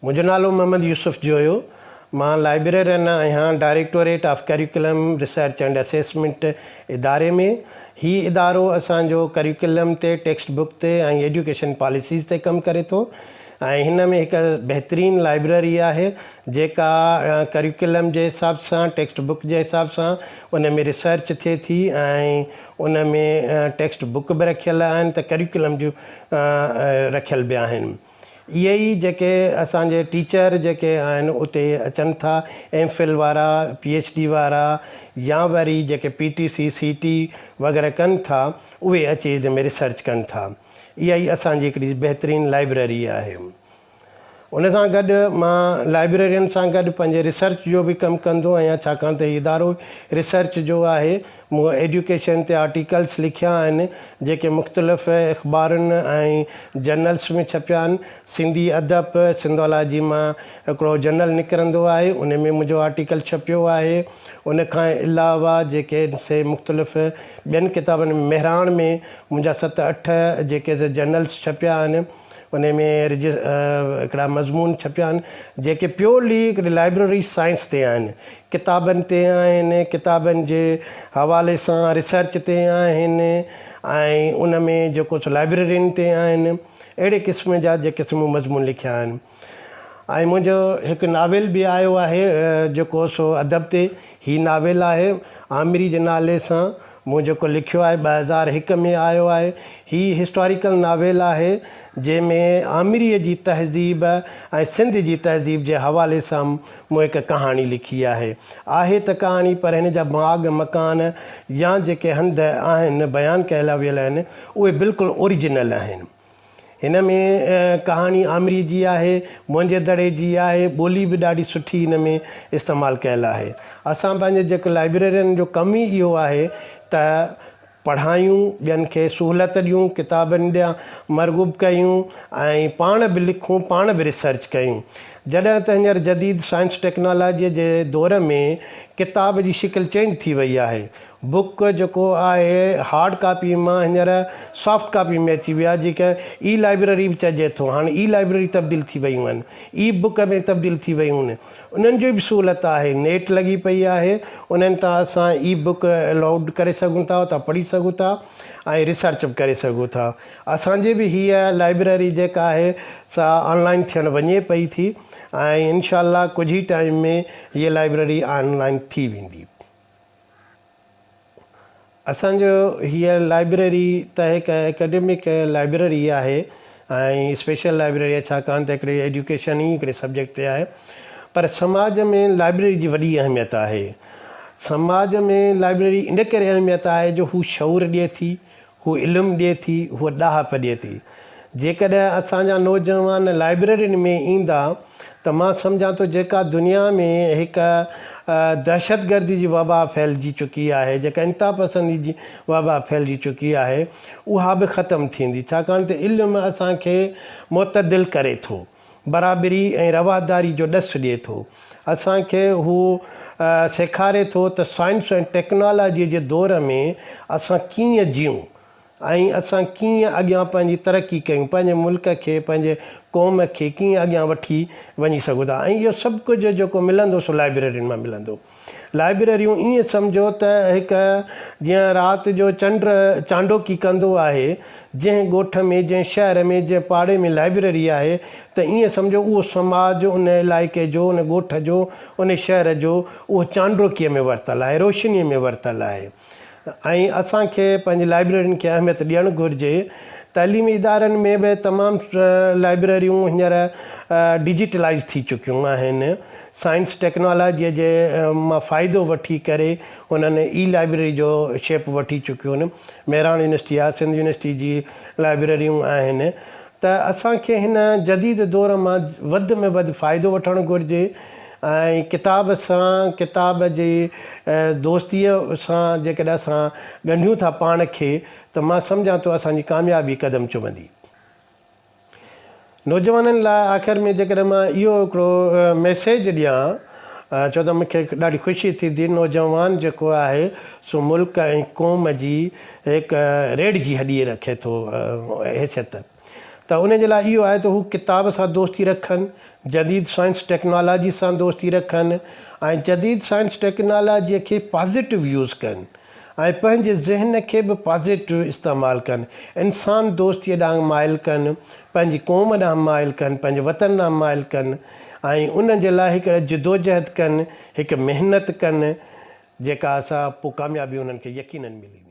منهنجو نالو محمد يوسف جويو، مان لائبريرين آهيان directorate of curriculum research and assessment اداري ۾، هي ادارو اسان جو ڪريڪولم تي، ٽيڪسٽ بڪ تي ۽ ايڊيوڪيشن پاليسيز تي ڪم ڪري ٿو ۽ هن ۾ هڪ بهترين لائبريري آهي جيڪا ڪريڪولم جي حساب سان ٽيڪسٽ بڪ جي حساب سان ان ۾ ريسرچ ٿئي ٿي ۽ ان ۾ ٽيڪسٽ بڪ به رکيل آهن ته ڪريڪولم جون رکيل به آهن. اهي ئي جيڪي اسان جي ٽيچر جيڪي آهن اتي اچن ٿا ايم فل وارا پي ايڇ ڊي وارا يا وري جيڪي پي ٽي سي سي ٽي وغيره ڪن ٿا اهي اچي ان ۾ ريسرچ ڪن ٿا اها ئي اسان جي هڪڙي بهترين لائبريري آهي ان سان گڏ مان لائبريرين سان گڏ پنهنجي ريسرچ جو به ڪم ڪندو آهيان ڇاڪاڻ ته هي ادارو ريسرچ جو آهي مون ايڊيوڪيشن تي آرٽيڪلز لکيا آهن، جيڪي مختلف اخبارن ۽ جرنلز ۾ ڇپيا آهن. سنڌي ادب سنڌالاجي مان هڪڙو جرنل نڪرندو آهي، ان ۾ منهنجو آرٽيڪل ڇپيو آهي. ان کان علاوه جيڪي سي مختلف ٻين ڪتابن ۾، مهراڻ ۾ منهنجا ست اٺ جيڪي سي جرنلز ڇپيا آهن. انهي ۾ هڪڙا مضمون ڇپيا آهن جيڪي پيورلي هڪڙي لائبرري سائنس تي آهن، ڪتابن تي آهن، ڪتابن جي حوالي سان ريسرچ تي آهن ۽ ان ۾ جيڪو سو لائبررين تي آهن اهڙي قسم جا جيڪي سو مون مضمون لکيا آهن ۽ منهنجو هڪ ناول به آيو آهي جيڪو سو ادب تي هي ناول آهي آمري جي نالي سان مون جيڪو لکيو آهي ٻه هزار هڪ ۾ آيو آهي. هي هسٽاريڪل ناول آهي جنهن ۾ آمريء جي تهذيب ۽ سنڌ جي تهذيب جي حوالي سان مون هڪ ڪهاڻي لکي آهي. آهي ته ڪهاڻي پر هن جا باغ، مڪان يا جيڪي هنڌ آهن بيان ڪيلا ويل آهن اهي بلڪل اوريجنل آهن. هن ۾ ڪهاڻي آمريء جي آهي، منهنجي دڙي جي آهي، ٻولي به ڏاڍي سٺي هن ۾ استعمال ڪيل آهي. اسان پنهنجي جيڪو لائبريرين جو ڪم ئي اهو آهي ته پڙهايون، ٻين کي سهولت ڏيون، ڪتابن ڏيان مرغوب ڪيون ۽ پاڻ به لکون، پاڻ به ريسرچ ڪيون. جڏهن ته هينئر جديد سائنس ٽيڪنالاجيء جي دور ۾ ڪتاب جي شڪل چينج ٿي وئي آهي، بوڪ جيڪو آهي هارڊ ڪاپي مان هينئر سافٽ ڪاپي ۾ اچي ويو آهي جنهن کي اي لائبرري به چئجي ٿو هاڻي اي لائبرري تبديل ٿي ويون آهن اي بوڪ ۾ تبديل ٿي ويون آهن انهن جي به سهولت آهي نيٽ لڳي پئي آهي انهن تان اسان اي بوڪ لوڊ ڪري سگهون ٿا اتان پڙهي سگهون ٿا ۽ ريسرچ به ڪري سگهون ٿا اسان جي به هيء لائبرري جيڪا آهي سا آن لائن ٿيڻ وڃي پئي ٿي ۽ انشاء الله ڪجهه ئي ٽائيم ۾ هيء لائبرري آن لائن ٿي ويندي اسان جو هيء لائبريري ته هڪ اڪيڊمڪ لائبريري ئي آهي ۽ اسپيشل لائبريري آهي ڇاڪاڻ ته هڪڙي ايڊيوڪيشن ئي هڪڙي سبجيڪٽ تي آهي پر سماج ۾ لائبريري جي وڏي اهميت آهي سماج ۾ لائبريري ان ڪري اهميت آهي جو هو شعور ڏئي ٿي هو علم ڏئي ٿي، هوء ڏاهپ ڏئي ٿي. جيڪڏهن اسان جا نوجوان لائبريرين ۾ ايندا ته مان سمجهان ٿو جيڪا دنيا ۾ هڪ دهشتگردي جي وبا ڦهلجي چڪي آهي، جيڪا انتهاپسندي جي وبا ڦهلجي چڪي آهي، اها به ختم ٿيندي، ڇاڪاڻ ته علم اسان کي معتدل ڪري ٿو. برابري ۽ رواداري جو ڏس ڏئي ٿو. اسان کي هو سيکاري ٿو ته سائنس ۽ ٽيڪنالاجيء جي دور ۾ اسان ڪيئن جيئون ۽ اسان ڪيئن اڳيان پنهنجي ترقي ڪيون، پنهنجي ملڪ کي، پنهنجي قوم کي ڪيئن اڳيان وٺي وڃي سگهون ٿا ۽ اهو سڀ ڪجهه جيڪو ملندو سو لائبريرين مان ملندو. لائبريريون ائين سمجهو ته هڪ جيئن رات جو چنڊ چانڊوڪي ڪندو آهي، جنهن ڳوٺ ۾، جنهن شهر ۾، جنهن پاڙي ۾ لائبريري آهي ته ائين سمجهو اهو سماج ان علائقي جو، ان ڳوٺ جو، ان شهر جو اهو چانڊوڪيء ۾ ورتل آهي، روشنيء ۾ ورتل آهي. ۽ اسان کي پنهنجي لائبريرين کي اهميت ڏيڻ گهرجي. تعليمي ادارن ۾ به تمام لائبريريون هينئر ڊجيٽلائيز ٿي چڪيون آهن. سائنس ٽيڪنالاجيء جي مان فائدو وٺي ڪري انهن اي لائبريري جو شيپ وٺي چڪيون مهراڻ يونيورسٽي آهي، سنڌ يونيورسٽي جي لائبريريون آهن ته اسان کي هن جديد دور مان وڌ ۾ وڌ فائدو وٺڻ گهرجي. ۽ ڪتاب سان، ڪتاب جي دوستيء سان جيڪڏهن اسان ڳنڍيون ٿا پاڻ کي ته مان سمجهان ٿو اسان جي ڪاميابي قدم چمندي. نوجوانن لاء آخر ۾ جيڪڏهن مان اهو هڪڙو ميسيج ڏيان ڇو ته مون کي ڏاڍي خوشي ٿيندي نوجوان جيڪو آهي سو ملڪ ۽ قوم جي هڪ ريڙهه جي هڏي رکي ٿو حيثيت. ته ان جي لاء اهو آهي ته هو ڪتاب سان دوستي رکن، جديد سائنس ٽيڪنالاجي سان دوستي رکن ۽ جديد سائنس ٽيڪنالاجي کي پازيٽو يوز ڪن ۽ پنهنجي ذهن کي به پازيٽو استعمال ڪن، انسان دوستي ڏانهن مائل ڪن، پنهنجي قوم ڏانهن مائل ڪن، پنهنجي وطن ڏانهن مائل ڪن ۽ ان جي لاء هڪ جدوجهد ڪن، هڪ محنت ڪن، جيڪا سا پوء ڪاميابي انهن کي يقينن ملي ويندي.